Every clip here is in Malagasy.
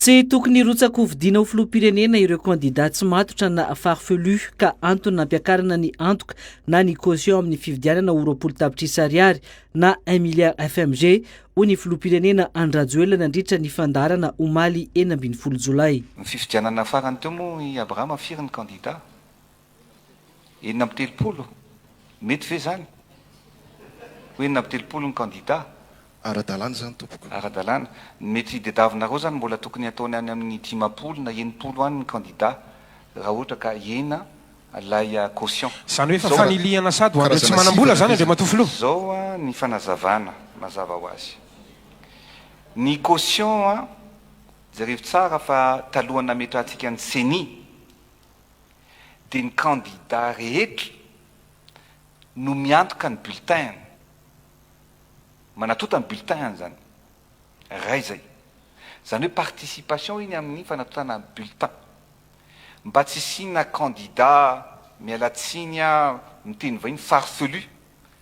Tsy tokony hirotsa-kovidiana ho filoham-pirenena ireo kandidà tsy matotra na farfelu ka antony nampiakarana ny antoka na ny caution amin'ny fividianana ho roapolo tapitrisa ariary na un milliard FMG, hoy ny filoham-pirenena Andry Rajoelina nandritra ny fandaharana omaly enina ambin'ny folo jolay. Ny fifidianana farany teo moa i Abraham Firy ny kandidà? Enina amby telopolo? Mety ve izany? Ho enina amby telopolo ny kandida? Ara-dalàna izany tompoko. Ara-dalàna. Ny mety hitdiadavinareo izany mbola tokony hataony any amin'ny dimampolo na enimpolo any ny kandida raha ohatra ka hena ilay caution. Izany hoe efa fanilihana sady ho an'ireo tsy manam-bola izany Andriamatoa Filoha? Izao ny fanazavana mazava ho azy. Ny caution, jerevo tsara fa talohan'ny nametrahantsika ny ceni, dia ny kandida rehetra no miantoka ny bulletin-ny, manatota ny bulletin-ny izany, iray izay. Izany hoe participation iny amin'ny fanatotana ny bulletin. Mba tsy hisiana kandida, miala tsiny aho, miteny vahiny, farfelu,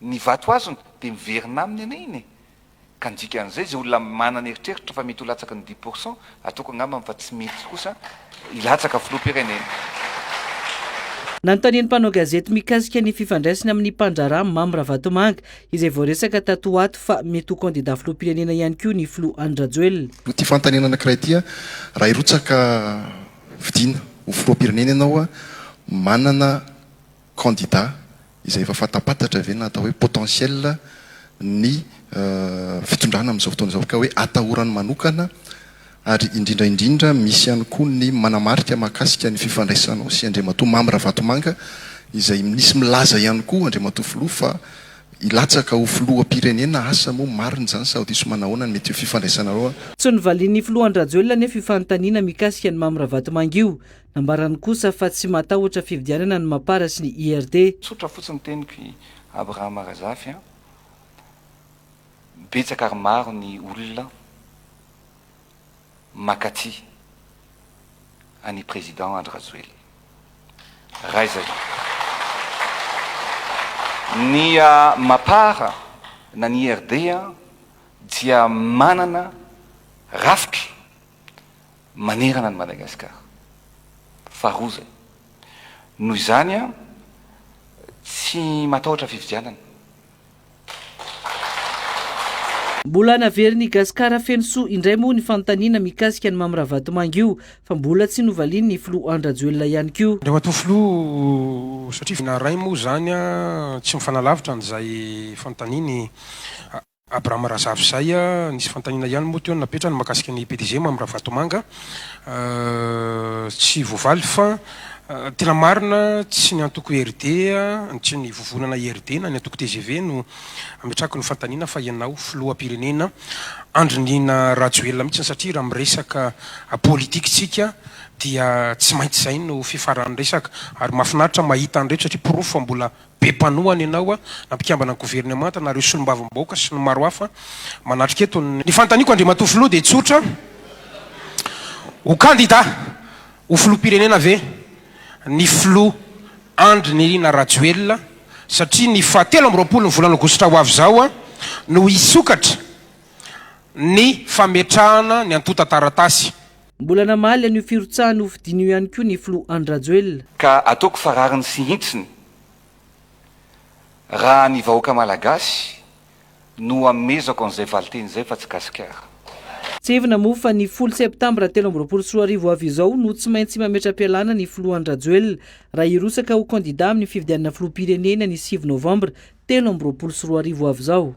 Ny vato azony dia miverina aminy anie iny e! Ka ny dikan'izay, izay olona manana eritreritra fa mety ho latsaky ny dix pour cent, ataoko angambany fa tsy mety kosa hilatsaka filoham-pirenena. Nanontanian'ny mpanao gazety mikasika ny fifandraisiny amin'ny mpandraharaha Mamy Ravatomanga, izay voaresaka tato ho ato fa mety ho kandidà filoham-pirenena ihany koa ny filoha Andry Rajoelina. Ity fanontaniana anankiray ity, Raha hirotsaka vidiana ho filoham-pirenena ianao, manana kandida izay efa fantampantatra ve na atao hoe potentiel ny fitondrana amin'izao fotoana izao ka hoe atahorany manokana ary indrindra indrindra misy ihany koa ny manamarika mahakasika ny fifandraisanao sy Andriamatoa Mamy Ravatomanga izay nisy milaza ihany koa Andriamatoa Filoha fa hilatsaka ho Filoham-pirenena asa moa marina izany sao diso manahoana ny mety ho fifandraisanareo Tsy novalian'ny Filoha Andry Rajoelina anefa io fanontaniana mikasika an'i Mamy Ravatomanga io Nambarany kosa fa tsy matahotra fifidianana ny Mapar sy ny IRD. Tsotra fotsiny teniko i Abraham Razafy a! Betsaka ary maro ny olona makatia an'i Président Andry Rajoelina. Raiza io. Ny Mapar na ny IRD dia manana rafitra. manerana an'i Madagasikara. Faharoa izay. Noho izany aho tsy matahotra fifidianana. Mbola naverina i Gasikara feno soa indray moa ny fanontaniana mikasika an'i Mamy Ravatomanga io fa mbola tsy novalian'ny filoha Andry Rajoelina ihany koa. Andriamatoa Filoha, satria vina iray moa izany, tsy mifanalavitra an'izay fanontaniany. Abraham Razafizay, Nisy fanontaniana ihany moa teo no napetrany mahakasika ny PDG, Mamy Ravatomanga. Tsy voavaly fa tena marina tsy ny antoko IRD, tsy ny vovonana IRD na ny antoko tgv no ametrahako ny fanontaniana fa ianao Filoham-pirenena Andry Nina Rajoelina mihitsy satria raha miresaka politique tsika dia tsy maintsy izay no fifaran'ny resaka ary mahafinaritra mahita an'ireto satria porofo fa mbola Be mpanohana ianao, na mpikambana governemanta, na ireo solombavambahoaka sy ny maro hafa manatrika eto. Ny fanontaniako Andriamatoa Filoha dia tsotra, ho kandida ho Filoham-pirenena ve ny Filoha Andry Nirina Rajoelina satria ny faha telo amby roapolo ny volana aogositra ho avy izao no hisokatra ny fametrahana ny antontan-taratasy. Mbola namaly an'io firotsahany hofidiana io ihany koa ny filoha Andry Rajoelina. Ka ataoko fa rariny sy hitsiny raha ny vahoaka malagasy no amezako an'izay valinteny izay fa tsy gasikara. Tsindrivina moa fa ny folo septambra telo amby roapolo sy roa arivo avy izao no tsy maintsy mametra-pialana ny filoha Andry Rajoelina raha hirotsaka ho kandida amin'ny fifidianana filoham-pirenena ny sivy novambra telo amby roapolo sy roa arivo avy izao.